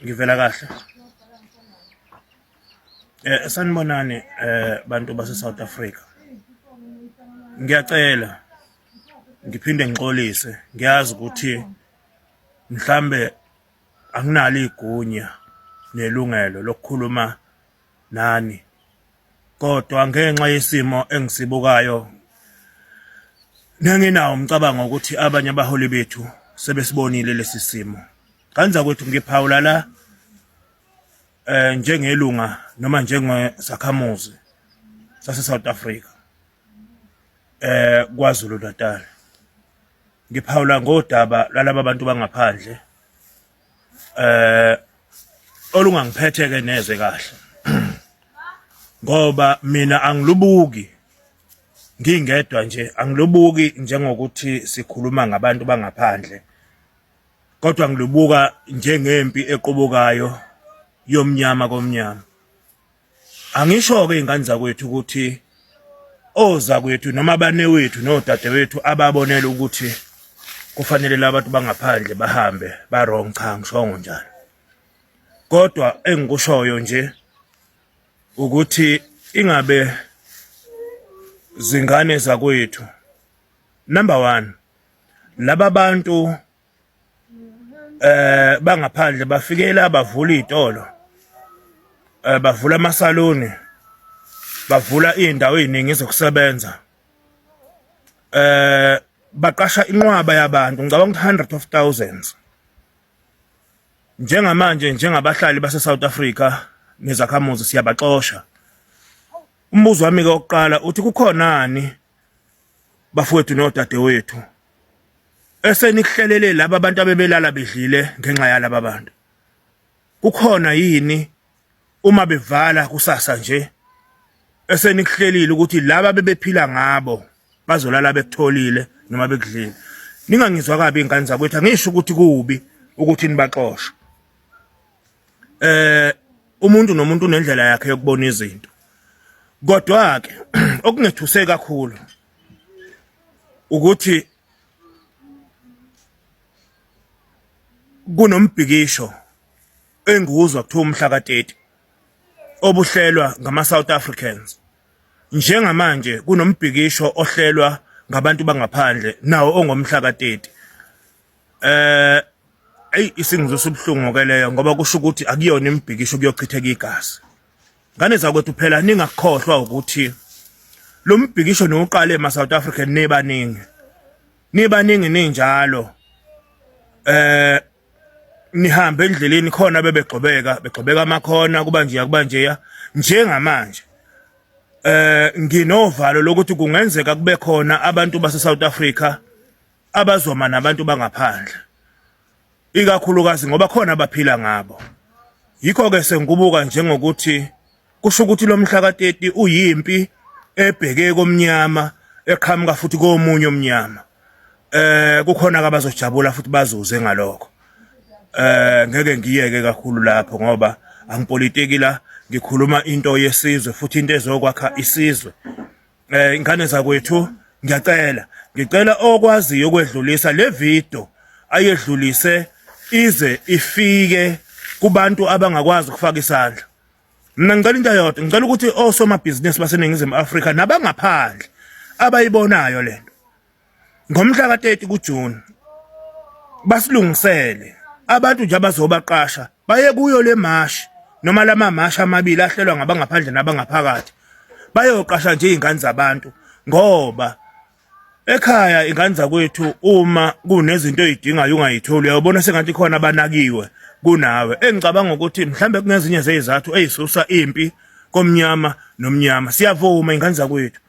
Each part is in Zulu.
ngivela kahle eh sanibonani eh bantu base South Africa ngiyacela ngiphinde ngixolise ngiyazi ukuthi mhlambe anginalo igunya nelungelo lokukhuluma nani kodwa ngenxa yesimo engisibukayo ngenginawo umcabango ukuthi abanye abaholi bethu sebesibonile lesi simo kanza kwethu ngiphawula la eh njengelunga noma njengesakhamuzi sase South Africa eh kwaZulu Natal ngiphawula ngodaba lalabo bantu bangaphandle eh olungangiphetheke neze kahle ngoba mina angilubuki ngingedwa nje angilubuki njengokuthi sikhuluma ngabantu bangaphandle kodwa ngilubuka njengempi equbukayo yomnyama komnyama Angisho-ke iy'ngane zakwethu ukuthi ozakwethu noma abanewethu nodadewethu ababonela ukuthi kufanele labantu bangaphandle bahambe ba-wrong cha ngishongo njalo kodwa engikushoyo nje ukuthi ingabe zingane zakwethu number 1 laba bantu eh bangaphandle bafikele abavula izitolo eh bavula amasaluni bavula izindawo eziningi zokusebenza eh baqasha inqwaba yabantu ngicabanga ukuthi hundreds of thousands njengamanje njengabahlali base South Africa nezakhamuzi siyabaxosha umbuzo wami ke oqala uthi kukhonani bafowethu nodadewethu esenikuhlelele laba abantu abebelala bedlile ngenxa yalaba bantu kukhona yini uma bevala kusasa nje esenikuhlelile ukuthi laba bebephila ngabo bazolala bekutholile noma bekudlile ningangizwa kabi ingane zakwethu angisho ukuthi kubi ukuthi nibaxoshe eh umuntu nomuntu unendlela yakhe yokubona izinto kodwa ke okungethuse kakhulu ukuthi kunombhikisho enguzwa kuthiwa umhla ka-30 obuhlelwa ngama-south africans njengamanje kunombhikisho ohlelwa ngabantu bangaphandle nawo ongomhla ka-30 Eh eyi isingizwisa ubuhlungu ke leyo ngoba kusho ukuthi akuyona imibhikisho kuyochitheka igazi. Ngane zakwethu phela ningakhohlwa ukuthi lo mbhikisho niwuqale ma South African nibaningi. Nibaningi ninjalo. Eh nihambe endleleni khona bebegxobeka begxobeka amakhona kuba nje kuba nje njengamanje eh nginovalo lokuthi kungenzeka kube khona abantu base South Africa abazoma nabantu bangaphandle ikakhulukazi ngoba khona abaphila ngabo yikho ke sengibuka njengokuthi kusho ukuthi lo mhla ka-30 uyimpi ebheke komnyama eqhamuka futhi komunye omnyama eh kukhona abazojabula futhi bazuze ngalokho eh ngeke ngiyeke kakhulu lapho ngoba angipolitiki la ngikhuluma into yesizwe futhi into ezokwakha isizwe eh ingane zakwethu ngiyacela ngicela okwaziyo ukwedlulisa le video ayedlulise ize ifike kubantu abangakwazi ukufaka isandla mina ngicela into yodwa ngicela ukuthi osomabhizinisi baseningizimu Afrika nabangaphandle abayibonayo lento ngomhla ka-30 kuJuni basilungisele abantu nje abazobaqasha baye kuyo le mashi noma lama mashi amabili ahlelwa ngabangaphandle nabangaphakathi bayoqasha nje izingane zabantu ngoba ekhaya ingane zakwethu uma kunezinto ezidingayo ungayitholi uyabona sengathi khona abanakiwe kunawe engicabanga ukuthi mhlambe kunezinye zezizathu ezisusa impi komnyama nomnyama siyavuma ingane zakwethu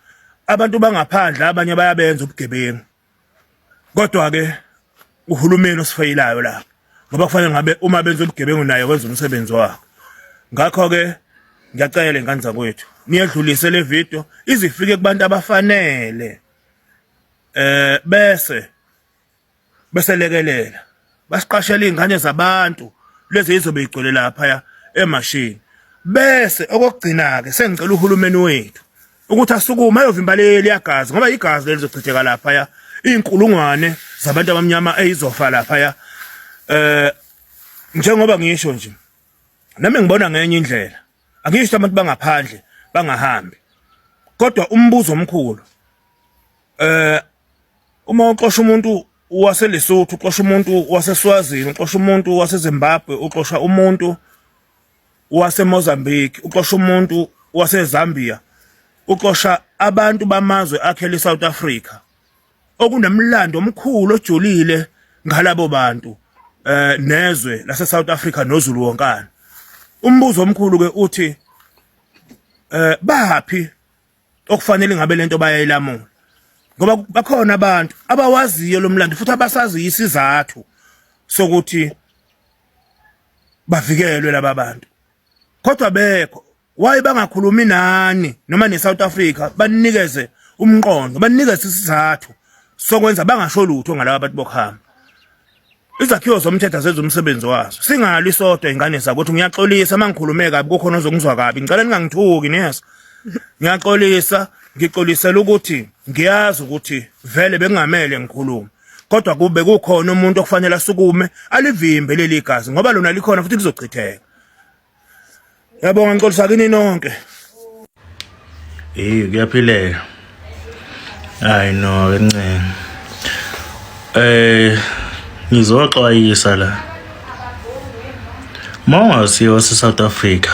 abantu bangaphandle abanye bayabenza ubugebengu kodwa ke uhulumeni osifeyelayo la ngoba kufanele ngabe uma benza ubugebengu naye wenza umsebenzi wakhe ngakho ke ngiyacela lengane zakwethu niyedlulise le video izifike kubantu abafanele eh bese beselekelela basiqashela izingane zabantu lezi izobe igcwele lapha emashini bese okugcina ke sengicela uhulumeni wethu ukuthi asukume ayovimba leli yagazi ngoba igazi leli lizochitheka lapha ya inkulungwane zabantu abamnyama eyizofa lapha ya eh njengoba ngisho nje nami ngibona ngenye indlela angisho abantu bangaphandle bangahambi kodwa umbuzo omkhulu eh uma uxosha umuntu waseLesotho uxosha umuntu waseSwazini uxosha umuntu waseZimbabwe uxosha umuntu waseMozambique uxosha umuntu waseZambia uxosha abantu bamazwe akhele iSouth Africa okunomlando omkhulu ojulile ngalabo bantu eh nezwe lase South Africa noZulu wonkana umbuzo omkhulu ke uthi eh baphi okufanele ngabe lento bayayilamula ngoba bakhona abantu abawaziyo lo mlando futhi abasaziyo isizathu sokuthi bavikelwe laba bantu kodwa bekho why bangakhulumi nani noma ne South Africa banikeze umqondo banikeze isizathu sokwenza bangasho lutho ngalabo abantu bokhama izakhiwo zomthetho zenza umsebenzi wazo singali sodwa ingane zakuthi ngiyaxolisa mangikhulume kabi kukhona ozongizwa kabi ngicela ningangithuki niyeza ngiyaxolisa ngixolisela ukuthi ngiyazi ukuthi vele bengamele ngikhulume kodwa kube kukhona umuntu okufanele asukume alivimbe leli gazi ngoba lona likhona futhi lizochitheka Yabonga ngicolisa kini nonke. Eh kuyaphileka. Hayi no ke ncane. Eh ngizoxwayisa la. Mawungasiyo wase South Africa.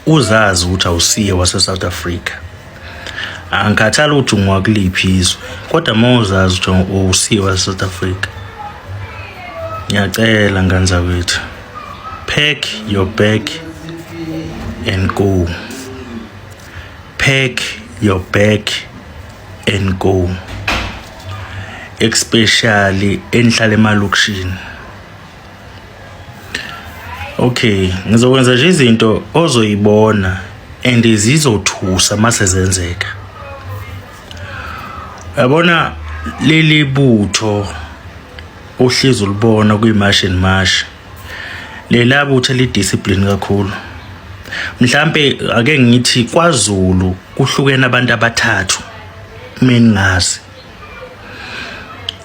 Uzazi ukuthi awusiye wase South Africa. angikhathali ukuthi ungakuliphi izwe kodwa uma uzazi ukuthi uwusiwa e-south africa ngiyacela ngane zakwethu pack your bag and go pack your bag and go especially enihlala emalokishini Okay, ngizokwenza nje izinto ozoyibona and zizothusa mase zenzeka. Yabona leli butho uhlezi ulibona kwimash and mash. Lela butho lidiscipline kakhulu. Mhlambe ake ngithi kwaZulu kuhlukene abantu abathathu mina ngazi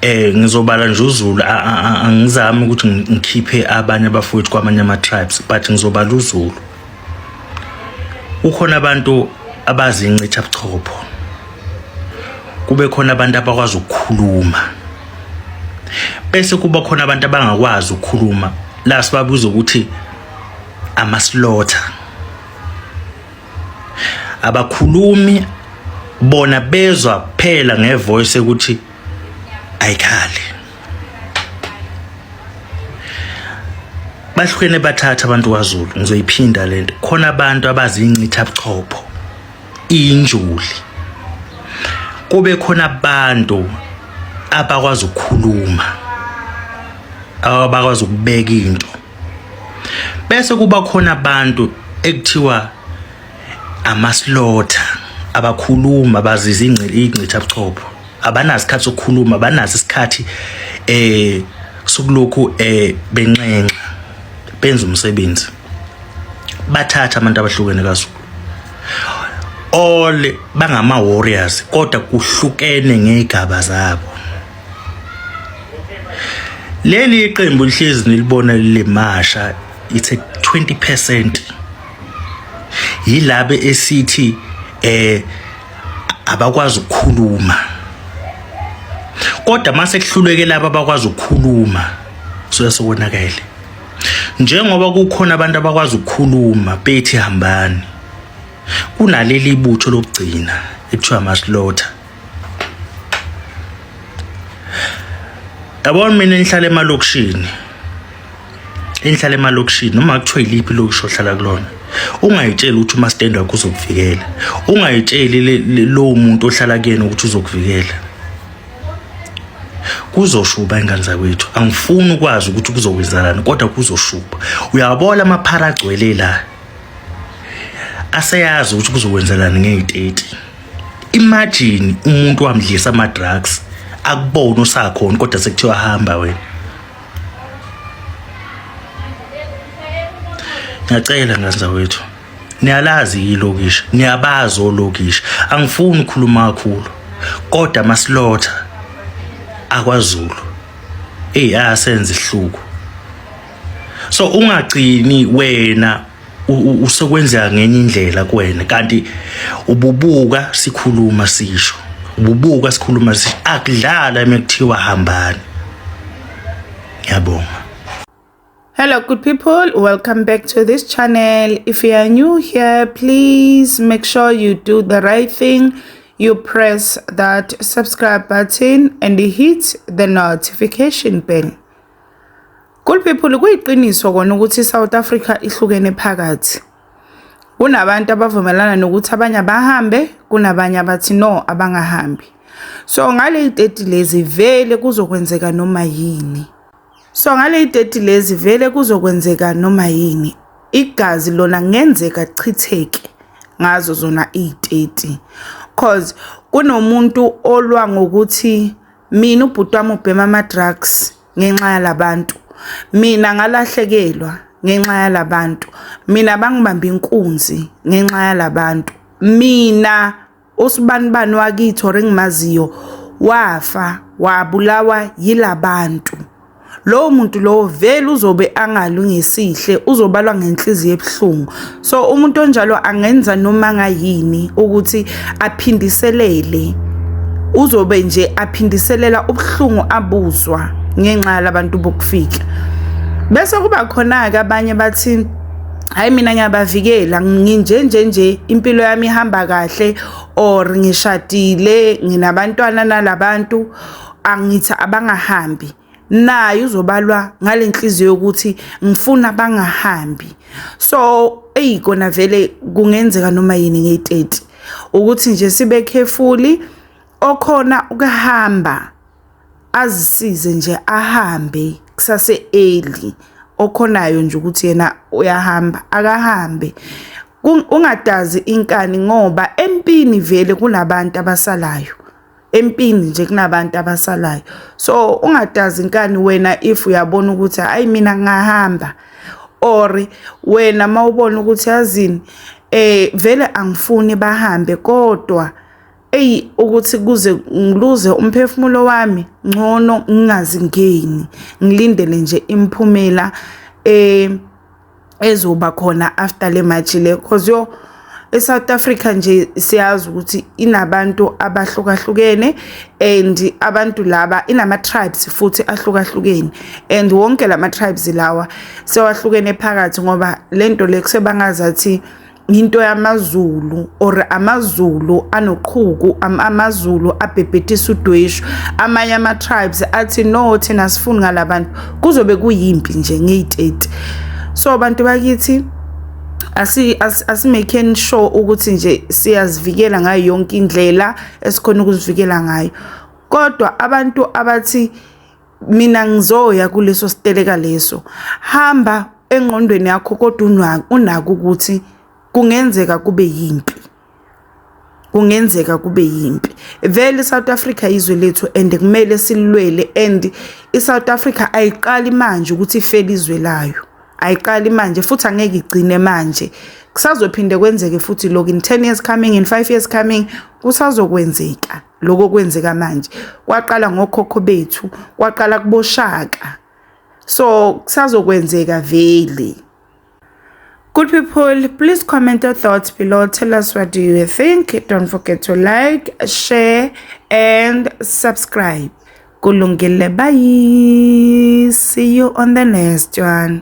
eh ngizobala nje uZulu angizami ukuthi ngikhiphe abanye abafowethu kwamanye ama tribes but ngizobala uZulu ukhona abantu abazi incitha buchopho kube khona abantu abakwazi ukukhuluma bese kuba khona abantu abangakwazi ukukhuluma la sibabuza ukuthi amasilotha abakhulumi bona bezwa kuphela ngevoice ukuthi ayikhali bahlukene bathatha abantu kwaZulu ngizoyiphinda lento khona abantu abazincitha buchopho injuli kube khona abantu abakwazi ukukhuluma abakwazi ukubeka into bese kuba khona abantu ekuthiwa amaslotha abakhuluma baziza ingcitha buchopho abanazi isikhathi sokukhuluma abanazi isikhathi eh sokulokhu eh benxenxa benza umsebenzi bathatha abantu abahlukene kaZulu all bangama warriors kodwa kuhlukene ngegaba zabo leli iqembu lihlezi nilibona limasha it's a 20% yilabe esithi eh abakwazi ukukhuluma kodwa mase kuhluleke laba abakwazi ukukhuluma soya sokonakele njengoba kukhona abantu abakwazi ukukhuluma bethi hambani kunaleli ibutho lokugcina ekuthiwa masilotha yabona mina ngihlala emalokishini engihlala emalokishini noma kuthiwa iliphi ilokishi ohlala kulona ungayitsheli ukuthi umastendi wakho uzokuvikela ungayitsheli lowo muntu ohlala kuyena ukuthi uzokuvikela kuzoshuba ingane zakwethu angifuni ukwazi ukuthi kuzokwenzakalani kodwa kuzoshuba uyabola amaphara agcwele la aseyazi ukuthi kuzokwenzelani ngey'teti imagine umuntu wamdlisa ama drugs akubona usakhona kodwa sekuthiwa hamba wena ngiyacela ngazindza wethu niyalazi yilokishi niyabazi olokishi angifuni ukukhuluma kakhulu kodwa amasilotha akwazulu eyi asenze ihluku so ungagcini wena usekwenzeka ngenye indlela kuwena kanti ububuka sikhuluma sisho ububuka sikhuluma sisho akudlala mekuthiwa hambani yabonga hello good people welcome back to this channel if you are new here please make sure you do the right thing you press that subscribe button and hit the notification bell Cool people kuyiqiniso kona ukuthi iSouth Africa ihlukene phakathi. Kunabantu abavumelana nokuthi abanye abahambe, kunabanye abathi no abangahambi. So ngale 30 lezi vele kuzokwenzeka noma yini. So ngale 30 lezi vele kuzokwenzeka noma yini. Igazi lona ngenzeka chitheke ngazo zona i30 cause kunomuntu olwa ngokuthi mina ubhuti wami ubhema ama-drugs ngenxa yalabantu mina ngalahlekelwa ngenxa yalabantu mina bangibamba inkunzi ngenxa yalabantu mina usibanibani wakithi or engimaziyo wafa wabulawa yilabantu lowo muntu lowo vele uzobe angalungisihle uzobalwa ngenhliziyo ebuhlungu so umuntu onjalo angenza noma ngayini ukuthi aphindiselele uzobe nje aphindiselela ubuhlungu abuzwa ngenxa yalabantu bokufika bese kuba khona-ke abanye bathi hayi mina ngiyabavikela nginje nje nje impilo yami ihamba kahle or ngishadile nginabantwana nalabantu angithi abangahambi naye uzobalwa ngale nhliziyo yokuthi ngifuna bangahambi so eyi kona vele kungenzeka noma yini ngeyiteti ukuthi nje sibe carefully okhona ukuhamba azisize nje ahambe kusase early okhonayo nje ukuthi yena uyahamba akahambe ungadazi inkani ngoba empini vele kunabantu abasalayo empini nje kunabantu abasalayo so ungadazi inkani wena if uyabona ukuthi hayi mina ngahamba or wena mawubona ukuthi yazini eh vele angifuni bahambe kodwa eyi ukuthi kuze ngiluze umphefumulo wami ngcono ngingazingeni ngilindele nje imphumela eh ezoba khona after le match le cause yo eSouth Africa nje siyazi ukuthi inabantu abahlukahlukene and abantu laba inama tribes futhi ahlukahlukene and wonke lama tribes lawa sewahlukene phakathi ngoba lento le kusebangazathi into yamaZulu or amaZulu anoqhuku amaZulu abhebhetisa udweshu amanye ama tribes athi no thina sifuni ngalabantu kuzobe kuyimpi nje ngeyi30 so abantu bakithi asi asimaking sure ukuthi nje siyazivikela ngayo yonke indlela esikhona ukuzivikela ngayo kodwa abantu abathi mina ngizoya kuleso siteleka leso hamba engqondweni yakho kodwa unaka ukuthi kungenzeka kube yimpi kungenzeka kube yimpi vele iSouth Africa izwe lethu and kumele silwele and iSouth Africa ayiqali manje ukuthi ifele izwe layo ayiqali manje futhi angeke igcine manje kusazophinde kwenzeke futhi lokho in 10 years coming in 5 years coming kusazokwenzeka lokho kwenzeka manje kwaqala ngokhokho bethu kwaqala kuboshaka so kusazokwenzeka vele Good people, please comment your thoughts below. Tell us what do you think. Don't forget to like, share, and subscribe. Kulungile, bye. See you on the next one.